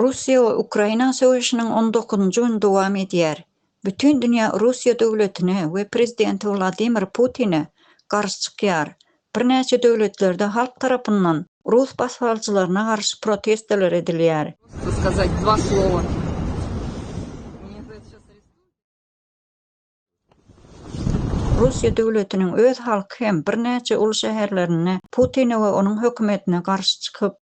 Russiýa we Ukraina söweşiniň on dokuzynjy güni dowam edýär. Bütin dünýä Russiýa döwletine we prezidenti Wladimir Putine garşy çykýar. Birnäçe döwletlerde halk tarapyndan rus basybalyjylaryna garşy protestolar edilýär. Russiýa döwletiniň öz halky hem birnäçe uly şäherlerinde Putine we onuň hökümetine garşy çykyp,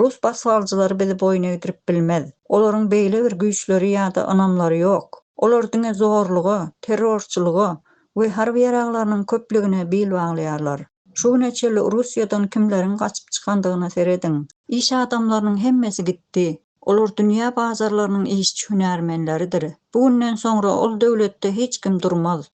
Rus basbalyjylary bizi boýun egdirip bilmez. Olaryň beýle bir güýçleri ýa-da ynamlary ýok. Olar diňe zorluga, terrorçylyga we harby ýaraglarynyň köplügine bil baglaýarlar. Şu güne çenli Russiýadan kimleriň gaçyp çykandygyna serediň. Iş adamlarynyň hemmesi gitdi. Olar dünýä bazarlarynyň işçi-hünärmenleridir. Bu günden soňra ol döwletde hiç kim durmaz.